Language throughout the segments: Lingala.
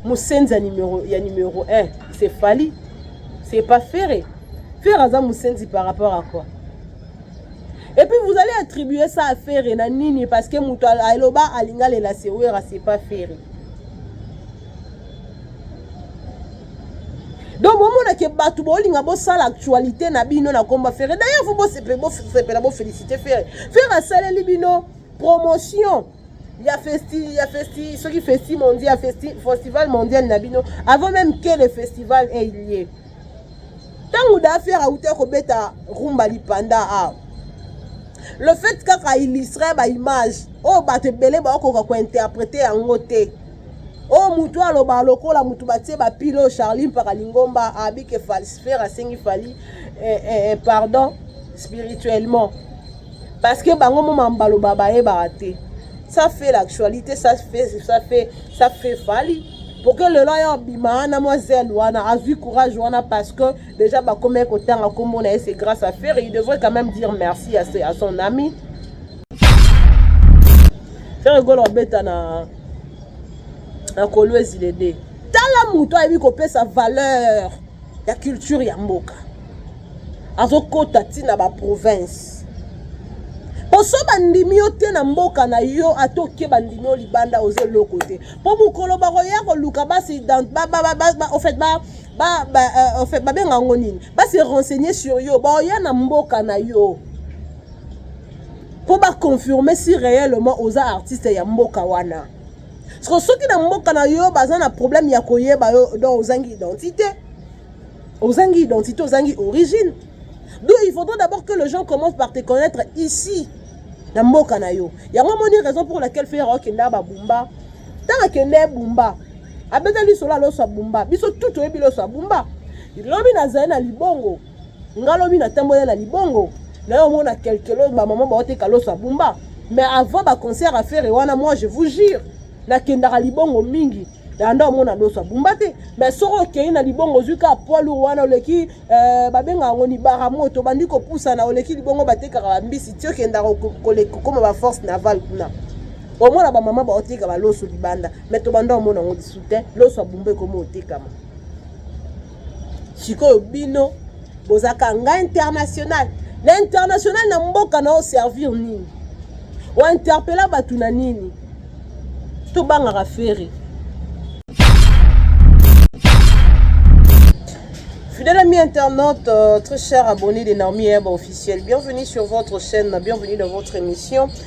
musenzi ya numero ya numero 1 c'est Fally c'est pas Ferre Ferre aza musenzi par rapport à quoi et puis vous allez attribuer ça à Ferre na nini parce que moto aloba alinga lela sewera c'est pas Ferre donc bomona ke bato bolinga bosala actualité na bino na komba ferre d'ailleurs fo bosepela bofélicité ferre ferre asaleli bino promotion ya festi ya festi soki festi mondial ya festi festival mondial na bino avant même que le festival ait lieu ntango dafer auta kobeta rumba lipanda awa le fait kaka illustre baimage oyo bato ebele baokoka kointerprete yango te oyo motu aloba lokola motu batie bapile oyo charlie mpaka lingomba abike falsifere asengi fali eh, eh, eh, pardon spirituellement parce que bango moma mbaloba bayebaka te ça fait l'actualité ça fait ça fait ça fait fali pour que lelo aya obima wana mwa zele wana azwi courage wana parce que déjà bakomaki kotanga nkombo na ye c'est grâce à ferre il devrait quand même dire merci à, à son ami ferre gola obeta na na kolwezi lede tala moto ayebi kopesa valeur ya culture ya mboka azokota ti na baprovince mpo so bandimi yo te na mboka na yo ata oke bandimi yo libanda oza eloko te mpo mokolo bakoya koluka basi ofet euh, babenga yango nini basi renseigne sur yo baoya na mboka na yo mpo baconfirme si réellement oza artiste ya mboka wana soki na mboka na yo baza na problème ya koyeba yo don ozangi identité Ozangi identité, ozangi origine. D'où il faudrait d'abord que les gens commencent par te connaître ici, na mboka na yo. Yango moni raison pour laquelle Ferre akenda ba Bumba. Tanga kende Bumba. Abeta liso la loso Bumba. Biso tout oyebi loso Bumba. Lobi na zali na libongo. Ngalobi na tambola na libongo. Na yo mona quelque chose ba maman ba oteka loso Bumba. Mais avant ba concert à Ferre wana moi je vous jure nakendaka libongo mingi yanda omona loso abumba te mais soki okei na libongo ozwi kaka poids lourd wana oleki euh, babenga yango libara moto obandi kopusana oleki libongo batekaka bambisi ti okendaka kokoma baforce naval kuna omona bamama baoteka baloso libanda mais tobanda omona yango lisu te loso abumba ekomi otekama sikoyo bino bozaka nga international na international na mboka na oservir nini ointerpela bato na nini tobangaka fere Fidèle ami internaute, euh, très cher abonné de Naomi Herbe officiel, bienvenue sur votre chaîne, bienvenue dans votre émission.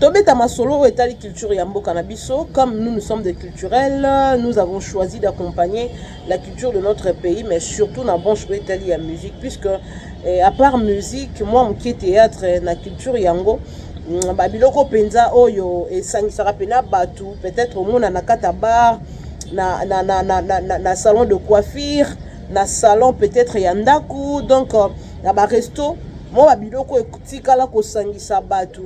Tobeta masolo oyo etali culture ya mboka na biso comme nous nous sommes des culturels nous avons choisi d'accompagner la culture de notre pays mais surtout na branche oyo etali ya musique puisque eh, à part musique moi mokie théâtre eh, na culture yango mm, babiloko mpenza oyo esangisaka mpena bato peut-être omona na kata bar na, na, na, na, na, na, na salon de coiffure na salon peut-être ya ndako donc euh, na ba resto mwa ba biloko etikala kosangisa bato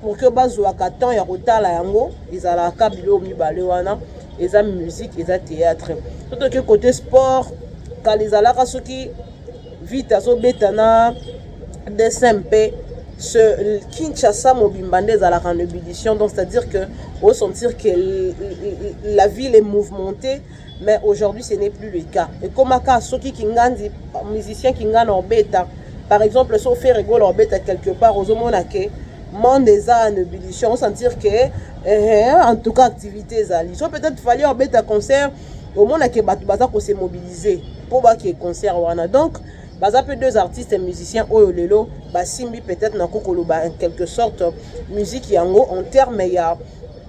pour que bazwaka temps ya kotala yango ezalaka biloko mibale wana eza musique eza théâtre to toke côté sport kala ezalaka soki vite azobeta na dessin mpe ce Kinshasa mobimba nde ezalaka en ébullition donc c'est-à-dire que osentir que la ville est mouvementée mais aujourd'hui ce n'est plus le cas ekomaka soki kingandi musicien kingana obeta par exemple so fere gola obeta quelque part ozomona ke monde eza en ébullition osentir ke eh, eh, en tout cas activité ezali so peut-être fallait obeta concert omona ke bato baza kose mobiliser mpo bake concert wana donc baza mpe deux artistes musiciens oyo lelo basimbi peut-être nakoki koloba en quelque sorte musique yango en terme ya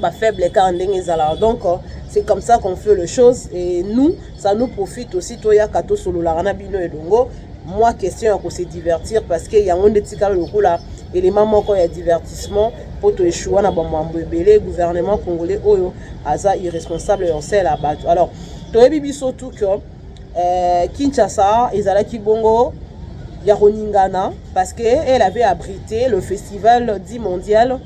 ba faible car ndenge ezalaka donc c'est comme ça qu'on fait les choses et nous ça nous profite aussi toyaka tosololaka na bino elongo mwa question ya kose divertir parce que yango nde etikala lokola élément moko ya divertissement mpo toeshua na bamwambo ebele gouvernement congolais oyo aza irresponsable ya osala bato alors toyebi biso tout que euh, kinshasa ezalaki bongo ya koningana parce que elle avait abrité le festival dit mondial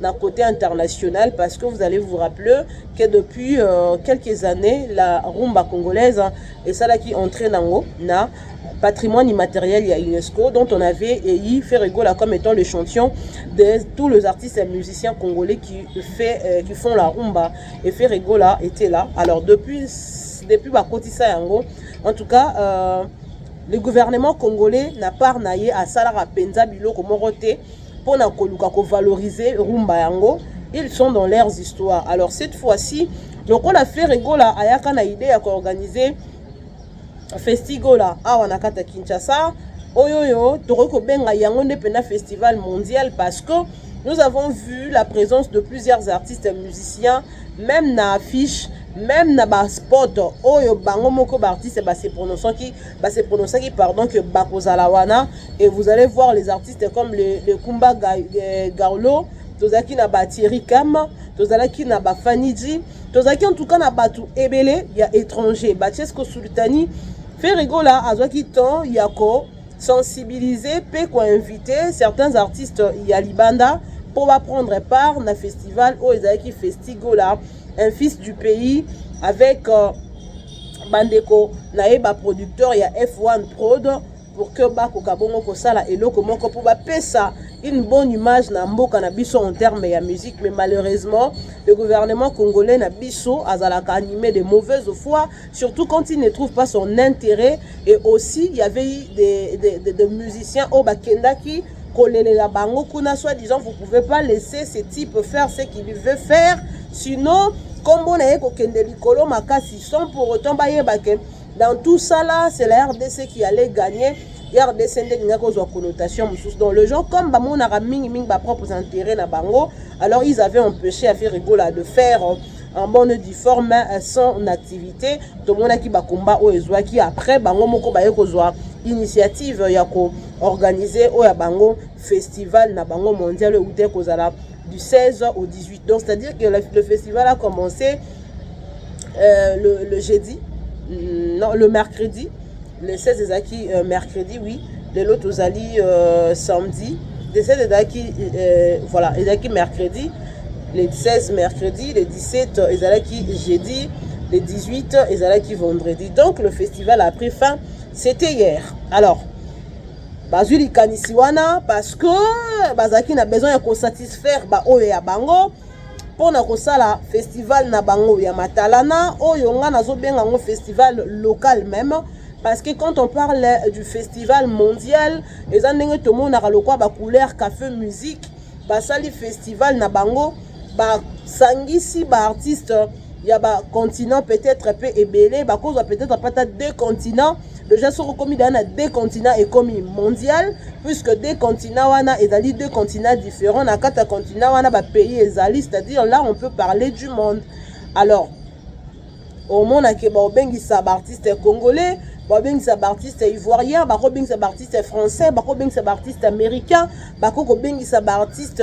na côté international parce que vous allez vous rappeler que depuis euh, quelques années la rumba congolaise hein, et ça là qui entrait nango na patrimoine immatériel ya UNESCO dont on avait élu Ferregola comme étant le champion de tous les artistes et musiciens congolais qui fait euh, qui font la rumba et Ferregola était là alors depuis depuis bakotisa yango en tout cas euh, le gouvernement congolais na part na ye asalaka mpenza biloko moko te pona koluka ko valoriser rumba yango ils sont dans leurs histoires alors cette fois-ci lokola Ferre Gola ayaka na idée ya koorganiser Festigola awa na kata Kinshasa oyo oyo tokoki kobenga yango nde mpenza festival mondial parce que nous avons vu la présence de plusieurs artistes musiciens même na affiche même na baspot oyo bango moko baartiste base prononcaki ba se prononçaki pardon que bakozala wana et vous allez voir les artistes comme le, le Kumba euh, Garlo tozalaki na ba Thierry Kam tozalaki na ba Faniji tozalaki en tout cas na bato ebele ya étranger ba Chesco Sultani Ferregola azwaki temps ya ko sensibiliser mpe ko inviter certains artistes ya libanda mpo ba prendre part na festival oyo ezalaki Festigola un fils du pays avec euh, bandeko na ye ba producteur ya F1 Prod pour que bakoka bongo kosala eloko moko mpo bapesa une bonne image na mboka na biso en terme ya musique mais malheureusement le gouvernement congolais na biso azalaka animé de mauvaise foi surtout quand il ne trouve pas son intérêt et aussi il y avait des, des, des, des musiciens oyo bakendaki kolelela bango kuna soit disant vous pouvez pas laisser ce type faire ce qu'il veut faire sinon nkombo na ye kokende likolo makasi sans pour autant bayeba ke dans tout ça là c'est la rdc qui allait gagner rdc nde ekendaki kozwa connotation mosusu donc le gens comme bamonaka mingimingi bapropres intérêt na bango alors ils avaient empêché affaire egola de faire euh, en bonne du forme euh, son activité tomonaki bakomba oyo ezwaki après bango moko baye kozwa initiative ya koorganize oyo ya bango festival na bango mondial euta ekozala du 16 au 18 donc c'est à dire que le festival a commencé euh, le, le jeudi mm, non le mercredi le 16 ezalaki euh, mercredi oui lelo tozali euh, samedi le 16 ezalaki euh, voilà ezalaki mercredi le 16 mercredi le 17 euh, ezalaki jeudi le 18 euh, ezalaki vendredi donc le festival a pris fin c'était hier alors bazwi likanisi wana parce que bazalaki na besoin ya kosatisfaire baoyo ya bango mpo na kosala festival na bango ya matalana oyo ngai nazobenga yango festival local meme parce que quand on parle du festival mondial eza ndenge tomonaka lokola bacouleur cafe musique basali festival na bango basangisi baartiste ba ya ba continent peut-être mpe ebele bakozwa peut-être mpe ata deux continent déjà soki okomi daa na deux continent ekomi mondial puisque deux continent wana ezali deux continent différent na kati ya continent wana bapays ezali c'est-à-dire là on peut parler du monde alors omonake baobengisa baartiste congolais babengisa baartiste ivoirien bakobengisa baartiste français bakobengisa baartiste américain bakokobengisa baartiste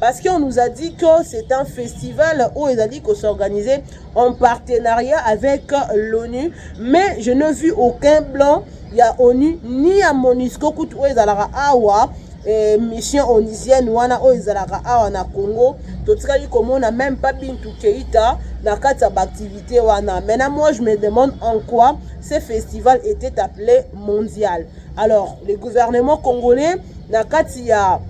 parce qu'on nous a dit que c'est un festival où ils allaient s'organiser en partenariat avec l'ONU, mais je n'ai vu aucun blanc, il y a ONU, ni à Monisco, où ils allaient awa, eh, mission onisienne wana oyo ezalaka awa na congo totikali komona même pas bintu keita na kati ya baactivité wana maintenant moi je me demande en quoi ce festival était appelé mondial alors le gouvernement congolais na kati ya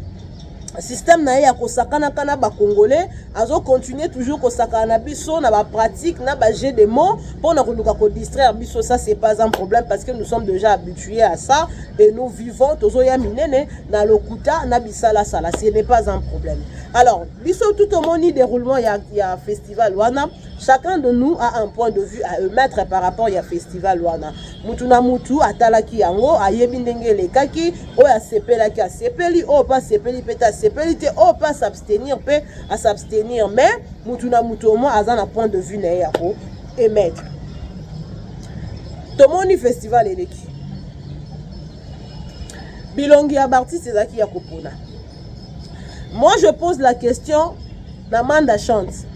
système na ye ya kosakanaka na bacongolais azocontinue toujours kosakana na biso na bapratique na bajet de mot mpo na koluka kodistraire biso ça c'est pas un problème parce que nous sommes déjà habitués à ça et nous vivons tozoya minene na lokuta na bisalasala ce n'est pas un problème alors biso tout omoni déroulement ya, ya festival wana chacun de nous a un point de vue à émettre par rapport ya festival wana mutu na mutu atalaki yango ayebi ndenge elekaki oyo asepelaki asepeli oyo mpe asepeli mpe te asepeli te oyo mpe asabstenir mpe asabstenir mais mutu na mutu omoi aza na point de vue na ye ya ko émettre tomoni festival eleki bilongi ya baartiste ezalaki ya kopona Moi je pose la question na manda chance.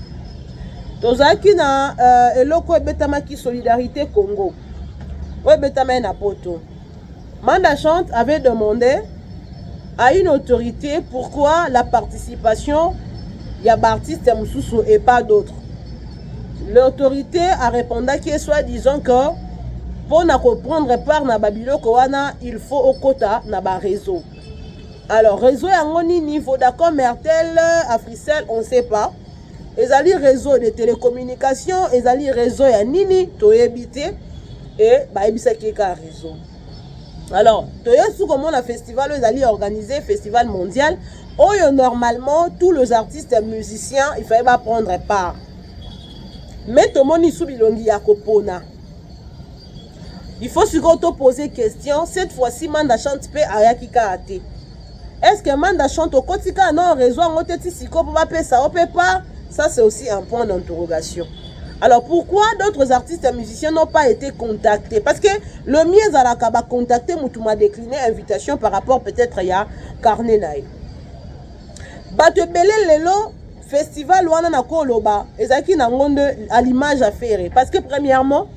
Tozalaki na uh, eloko ebetamaki solidarité Congo. Oyo ebetamaki na poto. Manda chante avait demandé à une autorité pourquoi la participation ya baartiste mosusu et pas d'autres l'autorité a répondaki soit disant que mpo na koprendre part na babiloko wana il faut okota na bareseau alors réseau yango nini vodacom airtel africel on sait pas ezali réseau de télécommunication ezali réseau ya nini toyebi te e bayebisaki ye kaka réseau alors toyesi komona festival oyo ezali organise festival mondial oyo normalement tous les artistes musiciens il fallait baprendre part mais tomoni su bilongi ya kopona il faut sikoyo to poser question cette fois ci manda chante mpe ayaki kaka te est ce que manda chante okoti kaka na réseau yango te ti sikoyo mpo bapesa yo mpe part ça c'est aussi un point d'interrogation alors pourquoi d'autres artistes et musiciens n'ont pas été contactés parce que le mieux ezalaka bacontacte motu ma décliné invitation par rapport peut-être ya carnet na ye bato ebele lelo festival wana nakoloba ezalaki nango nde à l'image ya fere parce que premièrement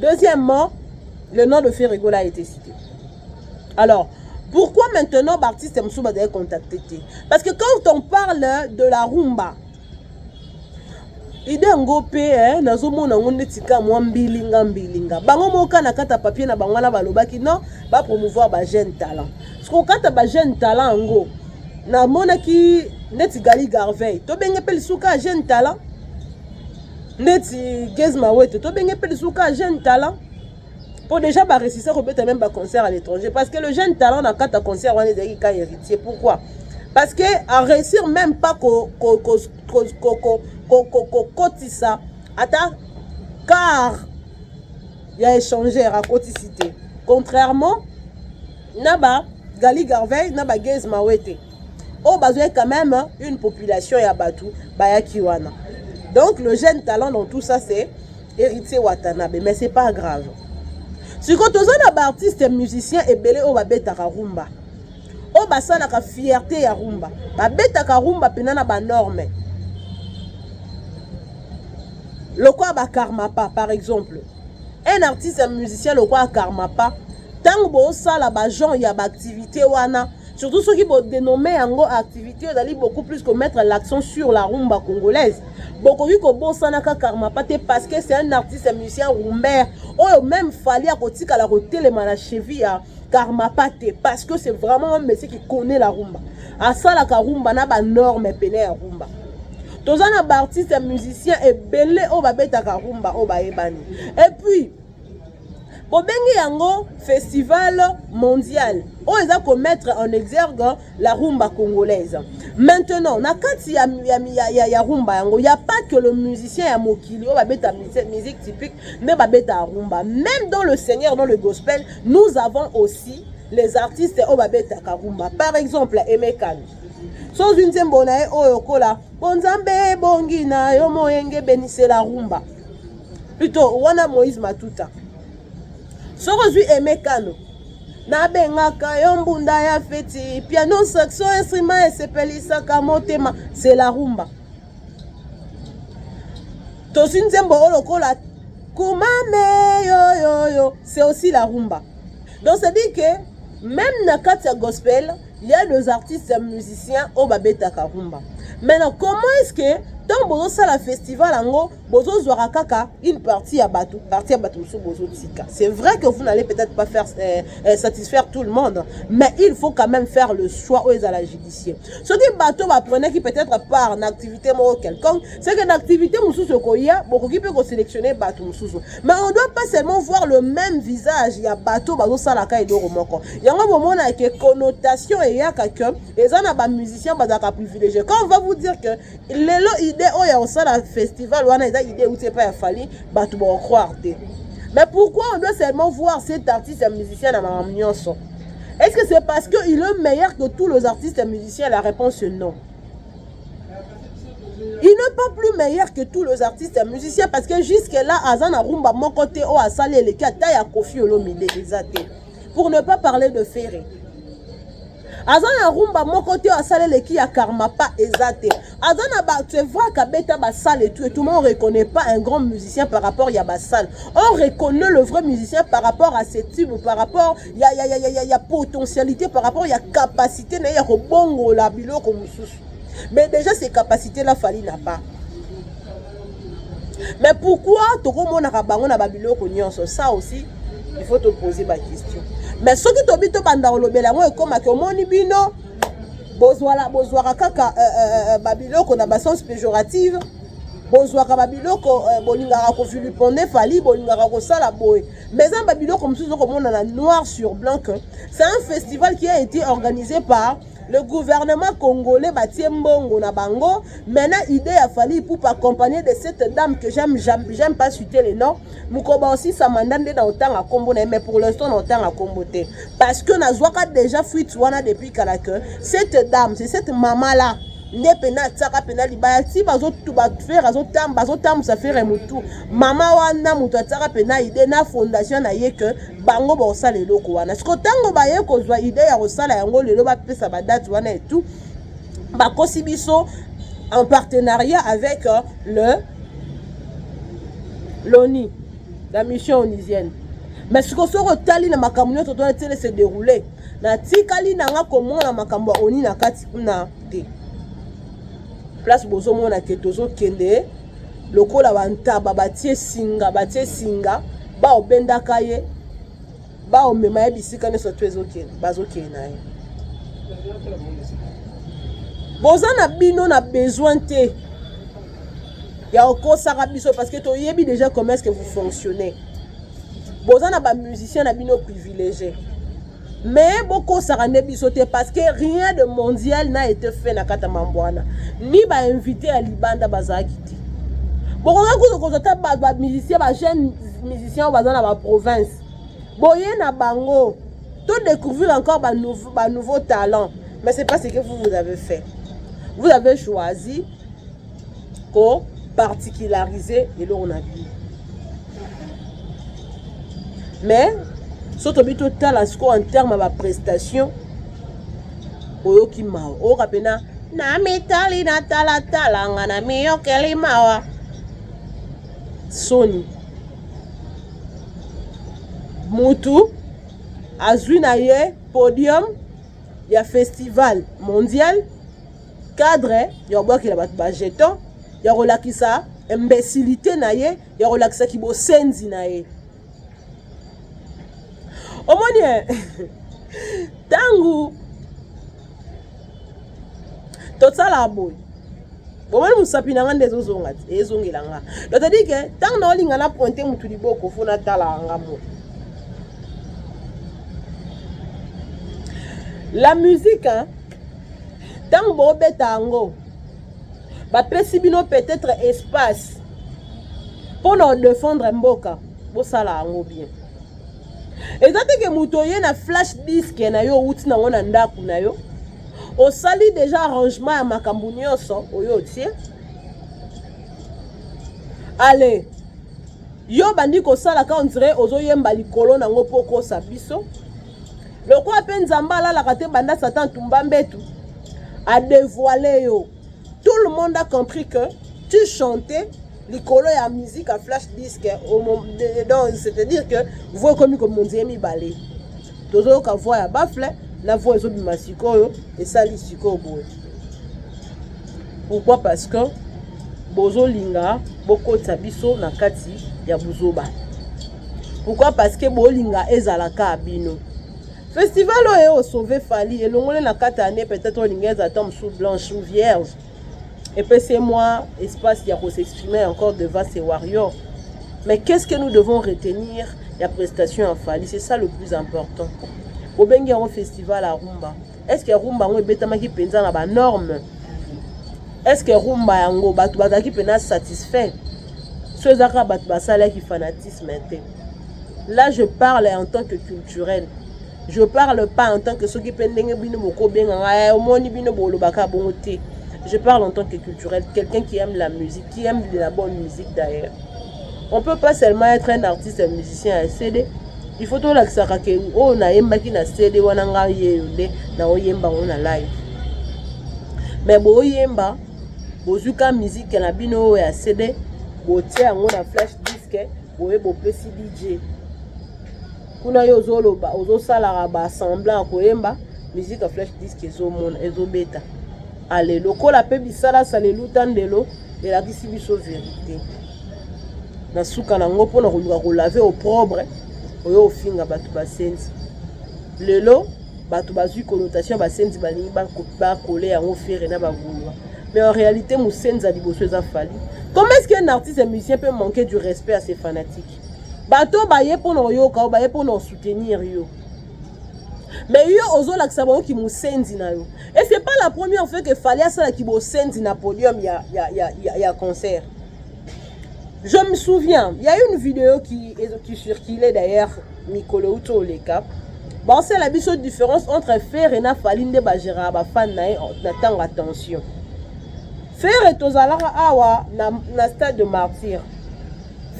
Deuxièmement, le nom de Ferre Gola a été cité. Alors, pourquoi maintenant Baptiste Msouba doit contacter Parce que quand on parle de la rumba, ide yango mpe eh, nazomona yango ndeti ka mwa mbilinga mbilinga bango moko ka na kata papier na bango wana balobaki non bapromouvoir bajeune talent sikokata bajeune talent yango namonaki ndeti gali garveil tobenge mpe lisuka jeune talent ndeti Gez Mawete to benge pe lisusu ka jeune talent po déjà ba réussir ko beta même ba concert à l'étranger parce que le jeune talent na kata concert wana ezali ka héritier pourquoi parce que à réussir même pas ko ko ko ko ko ko ko ko ko kotisa ata car ya échangeur à kotisite contrairement na ba Gali Garvey na ba Gez Mawete oyo bazwaki quand même une population ya bato bayaki wana donc le jeune talent dans tout ça c'est héritier watanabe mais c'est pas grave sikoyo toza na baartiste musicien ebele oyo babetaka rumba oyo basalaka fierté ya rumba babetaka rumba mpena na banorme lokola bakarmapa par exemple un artiste musicien lokola karmapa ntango bosala ba genre ya baactivité wana surtout soki bodenome yango activité ozali beaucoup plus komettre l'accent sur la rumba congolaise bokoki kobosanaka karmapa te parce que c'est un artiste musicien rumbaire oyo même fali akotikala kotelema na cheville ya karmapa te parce que c'est vraiment un monsieur qui connaît la rumba asalaka rumba na banorme pene ya rumba toza na baartiste musicien ebele oyo babetaka rumba oyo bayebani epuis bobengi yango festival mondial oyo eza komettre en exergue la rumba congolaise maintenant na kati ya, ya, ya, ya, ya rumba yango ya pas que le musicien ya mokili oyo babeta musique typique nde babeta ya rumba même dans le seigneur dans le gospel nous avons aussi les artistes oyo babetaka rumba par exemple emekani sozwi nzembo na ye oyo okola bonzambe ebongi na yo moyengebeni se la rumba Plutot wana Moïse Matuta. Soko zui Aimé Kano. nabengaka yo mbunda ya feti piano saxo instrument esepelisaka motema c'est la rumba tozwi nzembo oyo lokola kumame yoyoyo c'est aussi la rumba donc ça dit que même na kati ya gospel il y a des artistes musiciens oyo babetaka rumba maintenant comment est ce que ntango bozosala festival yango bozo zwaka kaka une partie ya bato partie ya bato mosusu bozo tika c'est vrai que vous n'allez peut-être pas faire euh, euh, satisfaire tout le monde mais il faut quand même faire le choix oyo ezala judicieux soki bato baprenaki peut-être part na activité moko quelconque c'est que na activité mosusu ekoya bokoki mpe koselectionne bato mosusu mais on doit pas seulement voir le même visage ya bato bazosalaka eloko moko yango bomona ke connotation eyaka que eza na bamusicien bazalaka privilégié quand on va vous dire que lelo idée oyo ya kosala festival wana eza idée euti epai ya fali bato bakocroire te mais pourquoi on doit seulement voir cet artiste ya musicien na makambo nyonso est ce que c'est parce que il est meilleur que tous les artistes ya musicien la réponse non il n'est pas plus meilleur que tous les artistes ya musicien parce que jusque là aza na rumba moko te oyo asali eleki ata ya kofi olomide eza te pour ne pas parler de ferre aza na rumba moko te asala eleki ya karmapa eza te aza na ba c'est vrai kabeta basale etout etout on reconnaît pas un grand musicien par rapport ya basale on reconnaît le vrai musicien par rapport à ses tubes par rapport ya, ya, ya, ya, ya, ya potentialité par rapport ya capacité na ye ya kobongola biloko mosusu mais déjà ces capacités là fali na pas mais pourquoi tokomonaka bango na babiloko nyonso ça aussi il faut toposer baquestion mais soki tobi tobanda kolobela yango ekomaki omoni bino bozwala bozwaka kaka uh, uh, babiloko na basens péjorative bozwaka babiloko uh, bolingaka kovilipone fali bolingaka kosala boye mais eza babiloko mosusu okomona na noir sur blanc que c'est un festival qui a été organisé par Le gouvernement congolais batie mbongo na bango. Maintenant, idée ya Fally Ipupa accompagné de cette dame que j'aime, j'aime pas citer le nom. Mukoba aussi sa mandat nde na otanga kombo na mais pour l'instant na otanga kombo te. Parce que na zwaka déjà fuite wana depuis kala que cette dame, c'est cette maman là nde pena atiaka pena libaya ti bafere azotamba azotambusa fere motu mama wana moto atiaka pena ide na fondation na ye ke bango bakosala eloko wana siko ntango baye kozwa ide ya kosala yango lelo bapesa badate wana etu bakosi biso en partenariat avec euh, le l'oni la mission onisienne mais sikoyo soki otali na makambo nyonso tona tiele se déroule natikali na nga komona makambo ya oni na kati kuna te place bozomona ke tozokende lokola bantaba batie singa batie singa baobendaka ye baomema ye bisika nyonso to ezokende bazokende na ye boza na bino na besoin te ya okosaka biso parce que toyebi déjà comment est-ce que vous fonctionnez boza na bamusicien na bino privilégié mais bokosaka nde biso te parce que rien de mondial n'a été fait na kati ya mambo wana ni bainvité ya libanda bazalaki te bokoki kutu kozwa ta bamusicien bajeune musicien oyo baza na baprovince boye na bango to découvrir encore banouveau ba talent mais c'est pas ce que vous vous avez fait vous avez choisi ko particulariser eloko na bino mais so tobi totala sikoyo en terme ya baprestation oyoki mawa oyoka mpena na mitali na talatala nga na miyokeli mawa soni mutu azwi na ye podium ya festival mondial cadre ya kobwakela bato bajeton ya kolakisa imbecilité na ye ya kolakisa kibosenzi na ye omoni ntango eh, tosalaka boye bomoni mosapi na nga nde ezozonga te ezongela nga lotadi ke ntango naolinga na pointe motu liboko fo natalaka nga mo la musique hein, ntango bobeta yango bapesi bino peut-être espace mpo na odefendre mboka bosala yango bien eza teke moto oye na flash disk na yo outi nango na ndako na yo osali deja arrangement ya makambo nyonso oyo otie ale yo bandi kosala ka ondire ozoyemba likolo nango mpo okosa biso lokola mpe nzambe alalaka te banda satan tumba mbetu adevoile yo tout le monde a compris que tu chantais likolo ya musique ya flash disque donc c'est-à-dire que voi ekomi komonzie mibale tozoyoka voi ya bafle na voi ezobima sikoyo esali sikoyo boye pourquoi parce que bozolinga bokotisa biso na kati ya buzoba pourquoi parce que bolinga ezala ka bino festival oyo osauve fali elongole na kati année peut-être olinga ezala ta mosusu blanche ou vierge epesi mwa espace ya kosexprimer encore devant ses warriors mais qu'est-ce que nous devons retenir ya prestation ya fali c'est ça le plus important obengi yango festival arumba Est-ce que rumba yango ebetamaki mpenza na ba normes? Est-ce que rumba yango bato bazalaki mpenza satisfait? So eza kaka bato basalaki fanatisme te. Là je parle en tant que culturel. Je parle pas en tant que soki mpe ndenge bino bokobenga ngai eh, omoni bino bolobaka bongo te. Je parle en tant que culturel, quelqu'un qui aime la musique, qui aime de la bonne musique d'ailleurs. on peut pas seulement être un artiste un musicien ya cd il faut tolakisaka ke oyo oh, nayembaki na cd wana ngai yeyo nde naoyemba yango na live mais boyemba bozwi ka mizike na bino oyo ya cd botie yango na flash diske boye bopesi dj kuna yo ozoloba ozosalaka ba semblant ya koyemba musique ya flash disk ezomona ezobeta ale lokola mpe bisalasa leluta ndelo elakisi biso verite na suka na yango mpona koluka kolave oprobre oyo ofinga bato basenzi lelo bato bazwi connotation basenzi balingi bakole yango fere na bagulwa mais en réalité mosenzi ya liboso eza fali comment est ce qu'un artiste musicien peut manquer du respect à ses fanatiques bato oyo baye mpo na oyoka yo baye mpo na osoutenir yo mais yo ozolakisa bango kimosenzi na yo et c'est pas la première fois que fali asala kibosenzi na podium ya, ya, ya, ya, ya concert je me souviens il y a une vidéo qui, qui circulait d'ailleurs mikolo uti oleka basala biso différence entre fere na fali nde bagéraka bafane na ye na ntango ya tension fere tozalaka awa na, na stade de martyre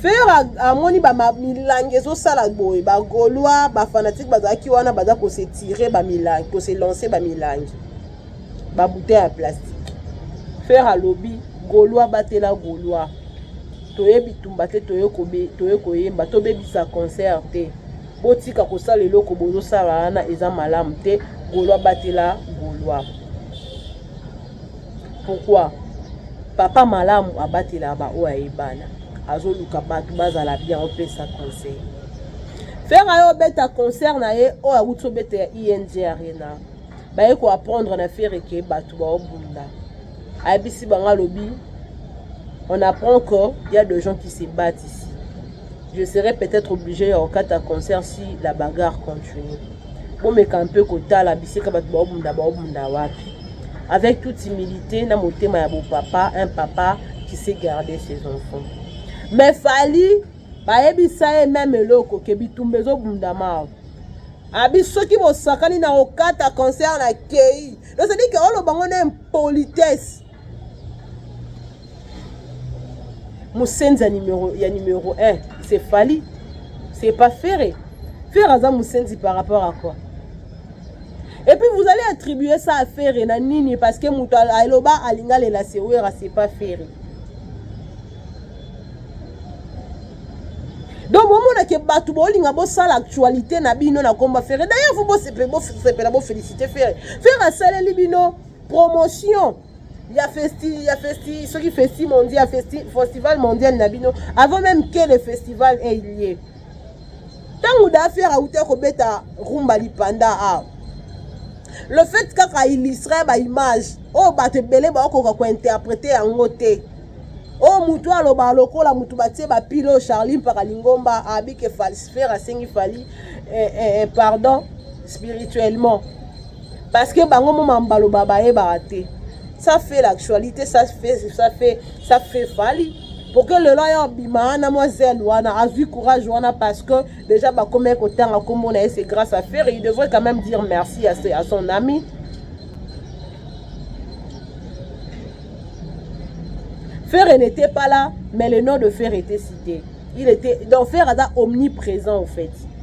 Ferre amoni ba milangi ezosala boye ba gaulois ba fanatique bazalaki wana baza ko se tirer ba milangi ko se lancer ba milangi ba bouteille ya plastique Ferre alobi gaulois batela gaulois toye bitumba te toye kobe toye koyemba tobebisa concert te botika kosala eloko bozosala wana eza malamu te gaulois batela gaulois Pourquoi? Papa malamu abatelaka ba oyo aye bana. Azoluka batu bazala bien opesa conseil. Ferre ayo obeta concert na ye oyo awuti obeta ya ING e Arena. Baye ko apprendre na Ferre ke batu ba obunda. Ayebisi bango alobi on apprend que il y a des gens qui se battent ici. Je serai peut-être obligé ya kokata concert si la bagarre continue. Bomeka un peu kotala bisika bato baobunda baobunda wapi avec toute humilité na motema ya bopapa un papa qui sait garder ses enfants mais fali bayebisa ye meme eloko ke bitumba ezobundama awa abi soki bosakani na okata concert na kei nozali ke olobango na impolitesse musenzi ya numero ya numero 1 c'est Fally c'est pas Ferre Ferre aza musenzi par rapport à quoi et puis vous allez attribuer ça à Ferre na nini parce que moto aloba alinga lela sewera c'est pas Ferre donc bomonake bato bolinga bosala actualité na bino na komba Ferre d'ailleurs vous bosepela bofélicite Ferre Ferre asaleli bino promotion ya festi ya festi soki festi mondial festi festival mondial na bino avant même que le festival ait lieu ntango dafer auta kobeta rumba lipanda awa le fait kaka illustre baimage oyo oh, bato ebele baokoka kointerprete yango te oyo oh, motu aloba lokola motu batie bapilo oh, charli mpaka lingomba abike falsifere asengi fali eh, eh, eh, pardon spirituellement parce que bango moma mbaloba bayebaka te ça fait l'actualité ça fait ça fait ça fait fali pour que lelo aya obima wana mwa zele wana azwi courage wana parce que déjà bakomaki kotanga nkombo na ye c'est grâce à faire il devrait quand même dire merci à, à son ami Ferre n'était pas là, mais le nom de Ferre était cité. Il était, donc Ferre est omniprésent en fait.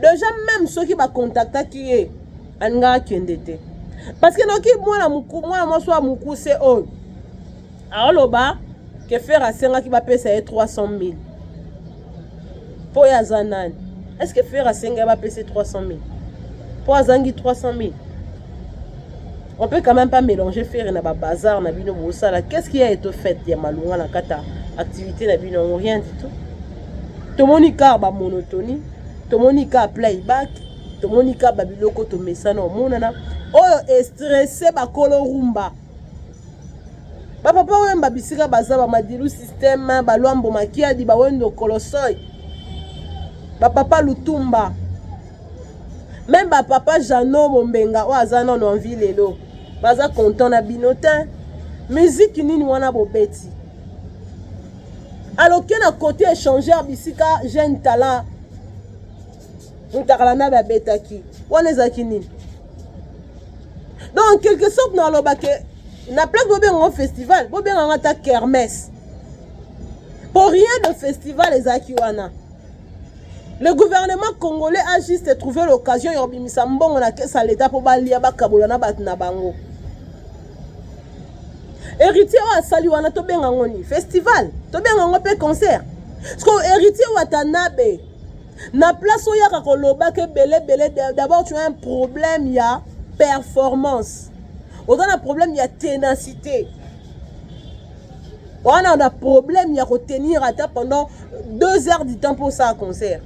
deja meme soki bakontaktaki ye alingaka akende te parce que noki mwana mwana mwasi wa mokuse oyo aoloba ke fere asengaki bapesa ye 300 000 mpo oyo aza nani est ce que fere asengaki bapesa ye 300 000 mpo azangi 300 000 on peut quand même pas mélanger ferre na ba bazar na bino bosala qu'est-ce qu'il y a eto fête ya malunga na kata activité na bino yango rien du tout tomoni kaka ba monotonie tomoni kaka playback tomoni kaka ba biloko tomesana omonana oyo estresse bakolo rumba bapapa wemba bisika baza bamadilu systeme balwambo makiadi bawendo kolosoi bapapa lutumba meme ba papa jano bombenga oyo aza nano envi lelo baza content na bino te miziki nini wana bobeti aloke na kote échangeur bisika jeune talent mutakala nabe abetaki wana ezalaki nini donc quelque sorte na aloba ke na place bobenga ngo festival bobenga ngo ata kermesse po rien de festival ezalaki wana Le gouvernement congolais a juste trouvé l'occasion ya kobimisa mbongo na kesa ya leta mpo balia bakabola na bato na bango héritier oyo asali wana tobenga yango nini festival tobenga yango mpe concert sikoyo héritier watanabe na place oyaka koloba ke belebele d'abord tu as un problème ya performance oza na problème ya ténacité wana na problème ya kotenir ata pendant deux heures du temps mpo osala concert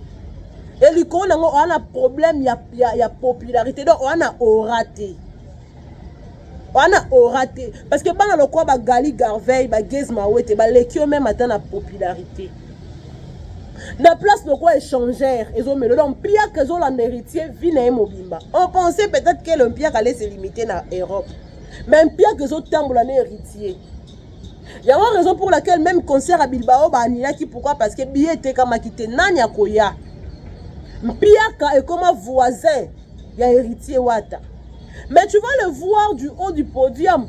e likolo nango oa na problème ya, ya, ya popularité donc oa na ora te oa na ora te parce que bana lokola bagali garveil bageze mawete baleki yo meme ata na popularité na place lokola échangère ezomelo donc mpiaka ezolanda héritier vie na ye mobimba on pensait peut-être que le mpiaka allait se limiter na europe mais mpiaka ezotambola na héritier yango raison pour laquelle même concert ya bilbao baanilaki pourquoi parce que billet etekamaki te nani akoya mpiaka ekoma voisin ya héritier wata mais tu vas le voir du haut du podium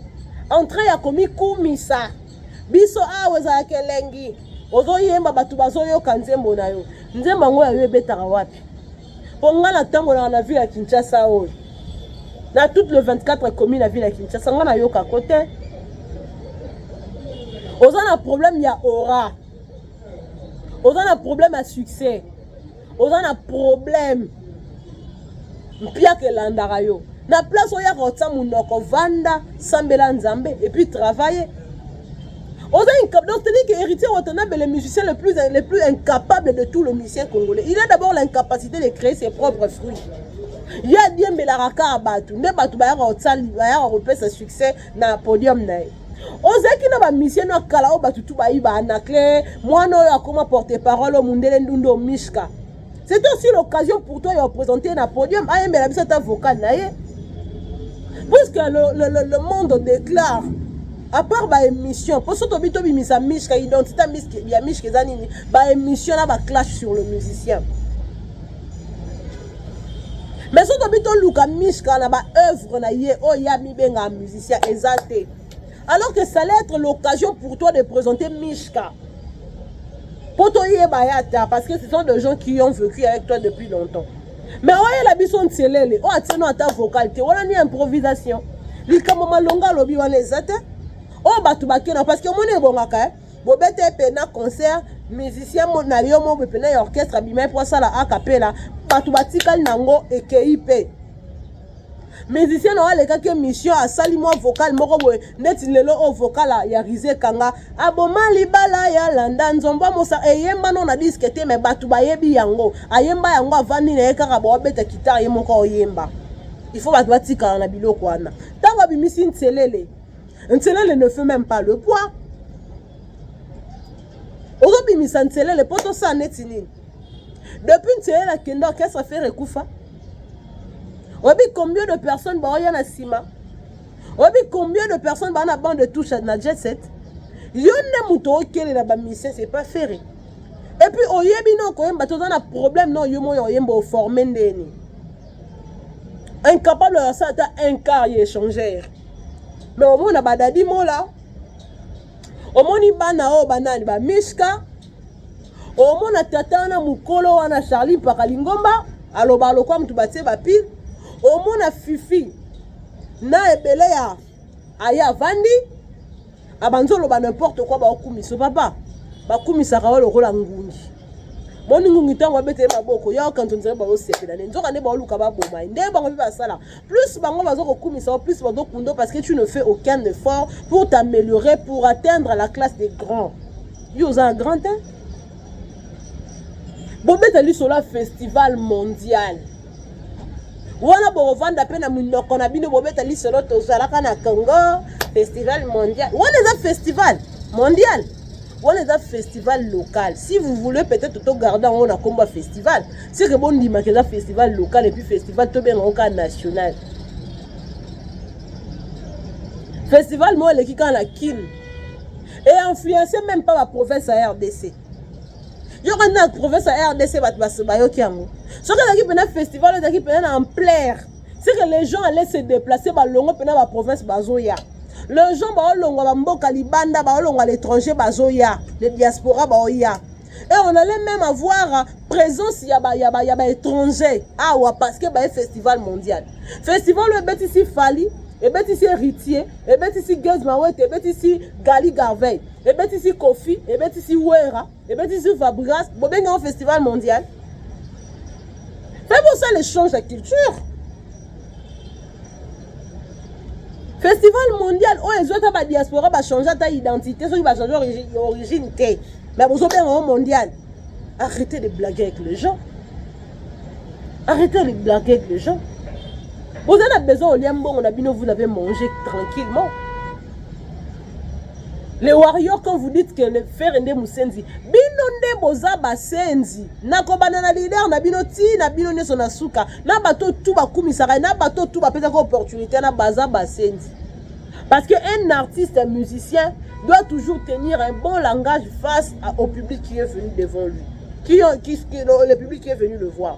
entrée ya komikumisa biso awa ezalaka elengi ozoyemba bato bazoyoka nzembo na yo nzembo yango ya yo ebetaka wapi mpo ngai natambolaka na ville ya kinshasa oyo na toute le 24 commune ya ville ya kinshasa ngai nayoka ko te oza na problème ya aura oza na problème ya succès oza na problème mpiaka elandaka yo na place oyaka otya monoko vanda sambela nzambe epuis travaille Oza incapable. Donc, c'est-à-dire que Héritier Watanabe est le musicien le plus, le plus incapable de tout le musicien congolais. Il a d'abord l'incapacité de créer ses propres fruits. ye adiembelaka kaka bato nde bato bayaka kosali bayaka kopesa succès na podium na ye ozalaki na bamisie na kala oyo bato tu bayi ba anaclin mwana oyo akoma porte parole oyo mundele ndundu omishka c'est aussi l'occasion pour toi ya représenter na podium ayembela biso ata vocal na ye puisque le, le, le, le monde déclare à part baémission mpo so tobi tobimisa mishka identité ya mishka eza nini baémission na baclash sur le musicien mais so tobi toluka mishka na baœuvre na ye oyo ye amibengaka musicien eza te alors que ça allait être l'occasion pour toi de présenter Mishka mpo toyeba ye ata parce que ce sont des gens qui ont vécu avec toi depuis longtemps mais oyela biso ntielele oyo atieno ata vocal te wana ni improvisation likambo malonga alobi wana eza te oyo bato bakena parce que omoni ebongaka eh? bobeta ye mpe na concert musicien na yo moko mpe na ya orchestre abimai mpo asala akapela bato batikali na yango ekei mpe musicien na yo alekaki émission asali mwa vocal moko boye neti lelo oyo vocal ya rise kanga aboma libala ya landa nzomba mosa eyemba no na diske te me bato bayebi yango ayemba yango avandi na ye kaka boabeta kitare ye moko oyemba il faut bato batikala na biloko wana ntango abimisi nselele nselele ne fait même pas le poids ozobimisa nselele mpo tosala neti nini depuis nselele akende orchestre fere ekufa oyebi combien de personnes baoya na nsima oyebi combien de personnes baa na bande de touche na jet set yo nde moto okelela bamisien c'est pas fere epuis oyebi na okoyemba te oza na problème na oyo moya oyemba oforme ndeni incapable ya sa ata un quart ya échangeur mais omona badadi mola omoni bana oyo banani ba miska omona tata wana mokolo wana charli mpaka lingomba aloba lokwa moto batie bapile omona fifi na ebele ya aye avandi abanzi oloba nimporte kua baokumiso papa bakumisaka oyo lokola ngungi boni ngungi ntango abetele maboko ya okanzo nzela baosepela ne nzoka nde baoluka baboma ye nde bango mpe basalaka Plus bango bazo kokumisa yo, plus bazo kundo parce que tu ne fais aucun effort pour t'améliorer, pour atteindre la classe des grands. Yo oza grand hein? Bobeta lisola festival mondial. wana bokovanda mpe na minoko na bino bobeta lisolo tozalaka na congo festival mondial wana eza festival mondial wana eza festival local si vous voulez peut-être togarde yango na nkombo ya festival seke bondimaka eza festival local epuis festival tobenga yango kaka national festival moko eleki kaka na kin e influence même pas baprovince ya rdc yoka nde na province ya rdc bato bayoki yango soki ezalaki mpena festival ezalaki mpena na ampleur c'est que les gens allaient se déplacer balongo mpena ba province bazoya les gens baolongwa bamboka libanda baolongwa l'étranger bazoya le diaspora baoya et on allait même avoir présence ya ba ya ba ya ba étranger awa parce que baye festival mondial festival oyo ebetisi fali ebetisi héritier ebetisi gaz mawete ebetisi gali garveil ebetisi kofi ebetisi wera ebeti sur fabregas bobengi yango festival mondial mpe bosala échange ya culture festival mondial oyo ezwi ata badiaspora bachange ata identité soki bachange origine te mais bozobenga yango mondial arrêtez de blaguer avec les gens arrêtez de blaguer avec les gens boza na besoin olia mbongo na bino vous l'avez mangé tranquillement le warrior quand vous dites que le ferre nde musenzi bino nde boza basenzi nakobanda na leader na bino ti na bino nyonso na suka na bato tu bakumisaka na bato tu bapesaka opportunité na baza basenzi parce que un artiste un musicien doit toujours tenir un bon langage face à, au public qui est venu devant lui qui, qui, qui, le public qui est venu le voir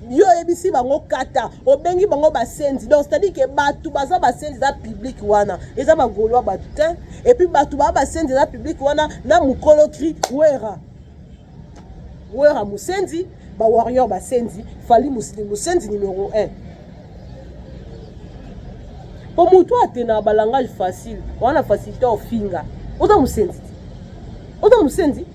yo oyebisi bango kata obengi bango basenzi donc c'est-à-dire ke bato baza basenzi eza public wana eza bagolois bato te epuis bato baa basenzi eza public wana na mokolo kri wera wera mosenzi bawarrior basenzi fali mosili mosenzi numero 1 mpo motu atena balangage facile wana facilité ofinga oza mosenzi oza mosenzi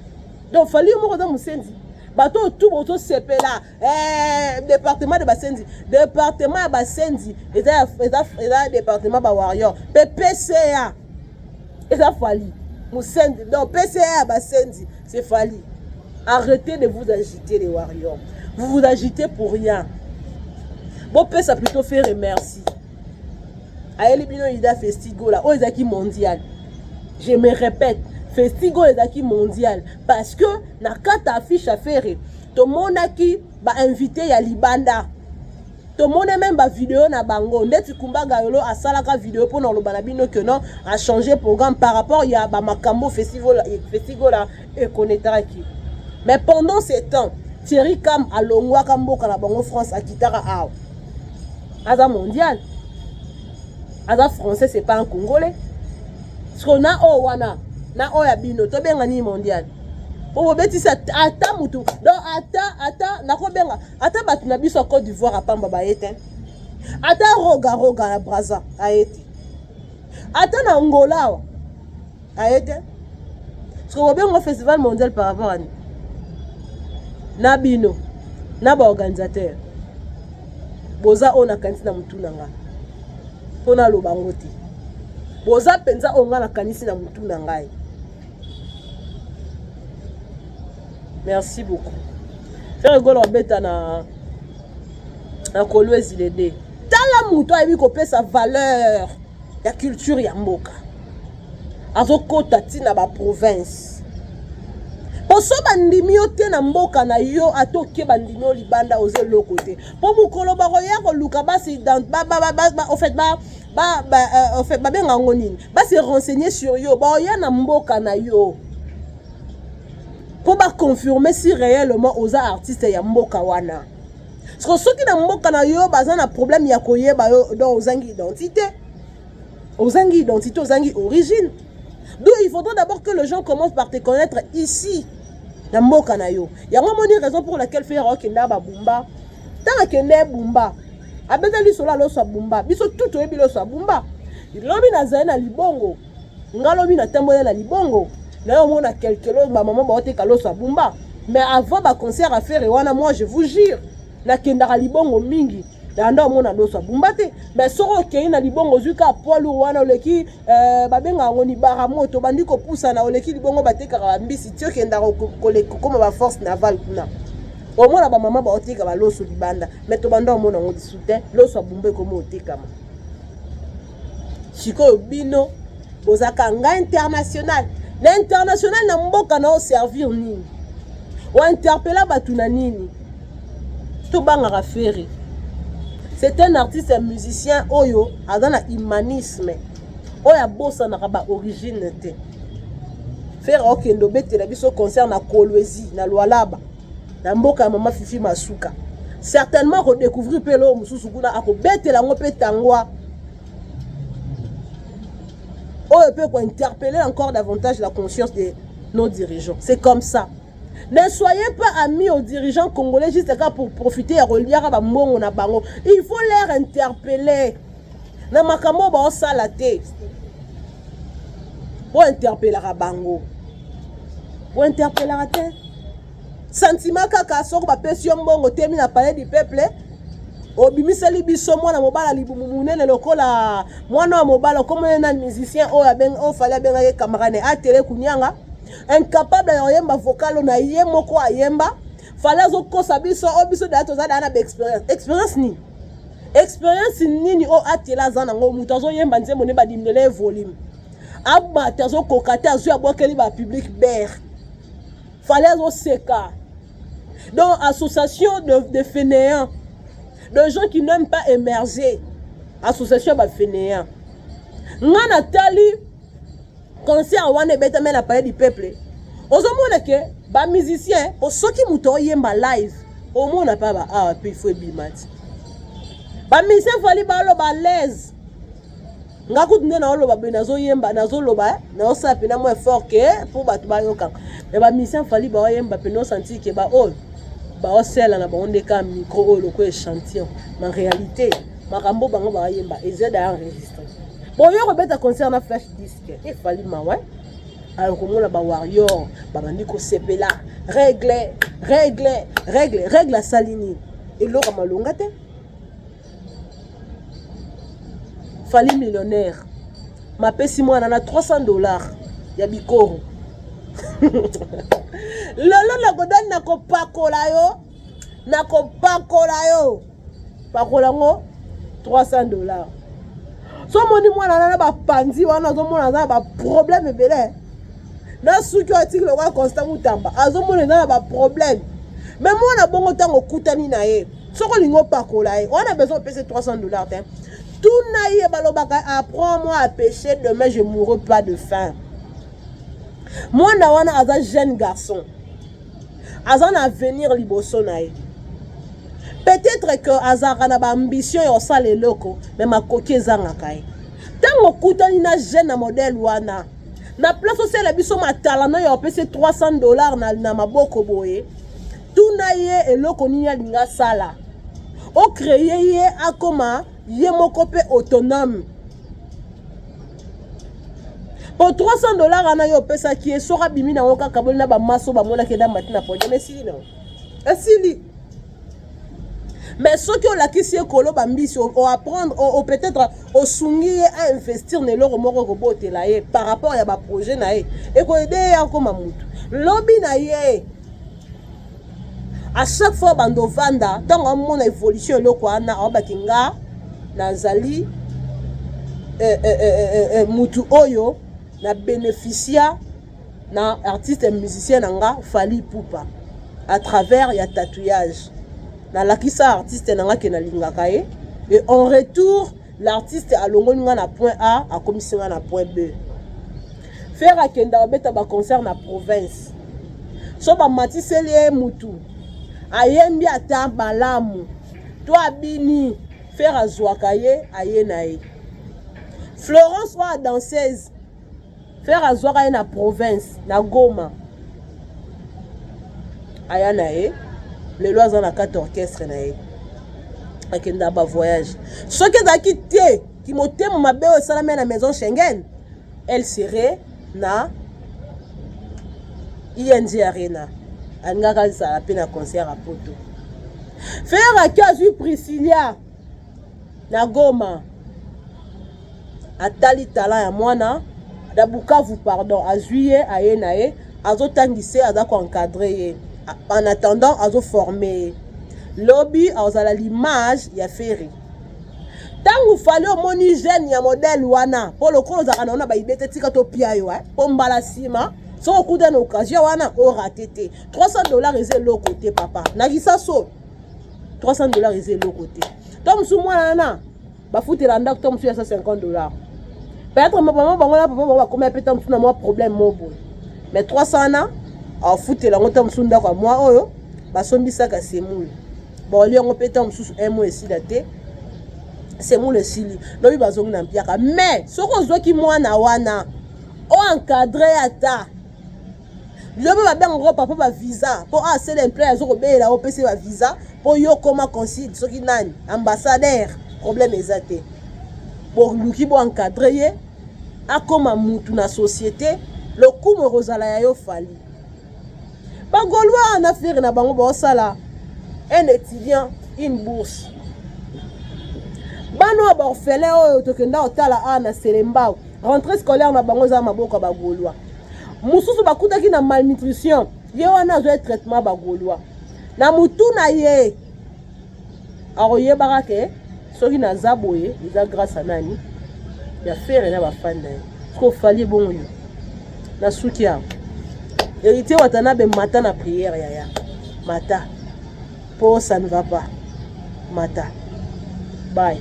donc fali yo moko oza mosenzi bato oyo tu bozosepela Eh, département de basenzi département ya basenzi eza, eza, eza département ba warrior mpe pca eza fali mosenzi donc pca ya basenzi c'est fali arrêtez de vous agiter les warriors vous vous agitez pour rien bopesa plutôt fere merci ayeli bino ida festigola oyo ezalaki mondial je me répète festigola ezalaki mondial parce que na kati ya affiche ya ferre tomonaki bainvité ya libanda tomona meme bavideo na bango ndeti kumba gayolo asalaka video mpo na koloba na bino que non achange programme par rapport ya bamakambo festigola ekonetaki mais pendant ce temps thierry cam alongwaka mboka na bango france akitaka awa aza mondial aza français c'est pas un congolais siko na oyo wana na oyo ya bino tobenga nini mondial obobetisi ata motu donc ata ata nakobenga ata bato na biso ya cote d'ivoire apamba baye te ata roga roga ya braza aye te ata na angola awa aye te soki obengo festival mondial par rapport ani na bino na baorganisateur boza oyo nakanisi na motu na ngai mpo naloba yango te boza mpenza oyo ngai nakanisi na motu na ngai merci beaucoup frere golo abeta na na kolwezi lede tala moto ayebi kopesa valeur ya culture ya mboka azokota ntina baprovince mpo so bandimi yo te na mboka na yo ata oke bandimi yo libanda oza eloko te mpo mokolo bakoya koluka basi ofet euh, babenga yango nini base renseigner sur yo baoya na mboka na yo mpo baconfirme si réellement oza artiste ya mboka wana Siko soki na mboka na yo baza na problème ya koyeba yo donc ozangi identité. Ozangi identité, ozangi origine. D'où il faudra d'abord que les gens commencent par te connaître ici na mboka na yo. Yango moni raison pour laquelle faire ok na ba bumba. Tant que ne bumba. Abetali sola loso bumba. Biso tout oyebi loso bumba. Lobi nazali na libongo. nga lobi na tambola na libongo na yo mona quelque chose ba maman ba teka loso abumba mais avant ba concert à faire wana moi je vous jure na kendaka libongo mingi na nda omona loso abumba te mais soki okei na libongo ozwi ka poids lourd wana oleki euh, babenga yango libara moto obandi kopusana oleki libongo batekaka bambisi ti okendaka kokoma baforce naval kuna omona bamama baoteka baloso libanda mais tobanda omona yango lisu te loso abumba ekomi otekama sikoyo bino bozaka nga international na international na mboka na oservir nini ointerpela bato na nini tobangaka ferre c'est un artiste ya musicien oyo aza na humanisme oyo abosanaka baorigine te ferre okende obetela biso concert na kolwezi na lwalaba na mboka ya mama fifi masuka certainement akodecouvrir mpe eloko mosusu kuna akobetela yango mpe tangwa oyo mpe kointerpelle encore davantage la conscience de nos dirigeants c'est comme ça ne soyez pas amis aux dirigeants congolais juste kaka pour profiter ya koliaka bambongo na bango il faut leur interpeller na makambo oyo baosala te bointerpelaka bango bointerpelaka te santima kaka soko bapesi yo mbongo temi na palais du peuple obimiseli biso mwana mobala libumu monene lokola mwana wa mobala okomona na musicien oyo abengi oyo fali abengaki kamarane atele kunyanga incapable ya koyemba vocalo na ye moko ayemba fale azokosa biso o oh, biso daya toza daya na baexperience experience nini experience nini oyo oh, atela aza nango moto azoyemba nzembo nde badimlela ye volume abate azokoka te azwi abwakeli bapublic bere fale azoseka donc association de, de fainéants de gens qui n'aiment pas émerger association ya bafainéants ngai natali concert wana ebetame na palais du peuple ozomona ke ba musicien po soki moto oyemba live omona pa ba awa pe ifo ebima ti ba musicien fali baloba laise nga kutu nde naoloba boye nazoyemba nazoloba eh, naosala mpena mwa effort ke mpo bato bayokaka me ba musicien fali baoyemba mpena osanti ke baoyo baosela na bango nde ka micro oyo lokola echantillon na réalité makambo bango baoyemba eza daya resistant boyo kobeta concert na flash disque e fali mawa alors komona ba warrior babandi kosepela règle règle règle règle asali nini eloko malonga te fali millionnaire mapesi mwana na 300 dollars ya bikoro lelo nakodani nakopakola yo nakopakola yo pakola yango 300 dollars so omoni mwana na na bapanzi wana ozomona aza na baproblème ebele na suki oyo atiki lokola constant mutamba azomona eza na baproblème me mwana bongo ntango okutani na ye soki olingi opakola ye wana besoin opesa 300 dollars te tuna ye balobaka apprend moi à pécher demain je mourrai pas de faim mwana wana aza jeune garçon aza na avenir liboso na ye peut-être que azalaka na baambition ya kosala eloko me makoki ezangaka ye ntango okutani na jeune na modele wana na place osala biso matalano ya opesi 300 dollar na, na maboko boye tuna ye eloko nini alingi asala ocreye ye akoma ye moko mpe autonome po 300 dollars wana yo opesaki ye soki abimi na yango kaka boli na bamaso bamonaki eda mati na podium esili na esili mais soki olakisi ye koloba mbisi oapprendre o, o peut-être osungi ye ainvestir na eloko moko ekobotela ye par rapport ya baprojet na ye ekoede ye akoma motu lobi na ye à chaque fois bando vanda ntango amona évolution eloko wana aobaki nga nazali eh, eh, eh, eh, mutu oyo na bénéficia na artiste ya musicien na nga fali pupa à travers ya tatouage nalakisa artiste na nga ke nalingaka ye et en retour L'artiste alongoli nga na point A akomisi nga na point B. Ferre akenda obeta ba concert na province. So ba matiseli ye mutu. Ayembi ata malamu. To abini Ferre azwaka ye aye na ye. Florence oyo danseuse Ferre azwaka ye na province na Goma aya na ye lelo aza na kati orchestre na ye akenda ba voyage soki ezalaki te kimotema mabe oyo esalami na maison Schengen elle serait na ING Arena alingaka azala mpe na concert ya poto Ferre aki azwi Priscilla na Goma atali tala ya mwana na Bukavu pardon azwi ye aye na ye azotangisa ye aza koencadre ye en attendant azoforme ye lobi azala l'image ya Ferre ntango fali omoni jeune ya modele wana mpo lokola ozalaka na yo na baibe te tika topia yo eh, mpo mbala nsima soki okuta na occasion wana orate te 300 dollars eza eloko te papa na lisaso 300 dollars eza eloko te to mosusu mwana wana bafutela ndako to mosusu ya 150 dollars peut-être mama bango na papa bango bakomi ape ta mosusu na mwa problème mo boye mais 300 wana afutela yango ta mosusu ndako ya mwa oyo basombisaka semoule baolie yango mpe ntango mosusu un mois esila te semoule esili lobi bazongi na mpiaka mais soki ozwaki mwana wana oencadre ata lobi babengaka ko papa ba visa mpo awa ah, sele emploi azo kobelela yo opesi ba visa mpo yo okoma consul soki nani ambassadeur problème eza te boluki bo encadre ye akoma mutu na société lokumu ekozala ya yo fali bagolois na fere na bango baosala un étudiant une bourse bana oyo baorphelin oyo tokenda kotala awa na selembao rentrée scolaire na bango eza maboko ya bagolois mosusu bakutaki na malnutrition ye wana azwa traitement bagolois na motu na ye akoyebaka ke soki naza boye eza grâce ya nani ya fere na bafani na ye soki ofali ebongo yo nasuki yango héritier watanabe mata na prière yaya mata po ça ne va pas mata bye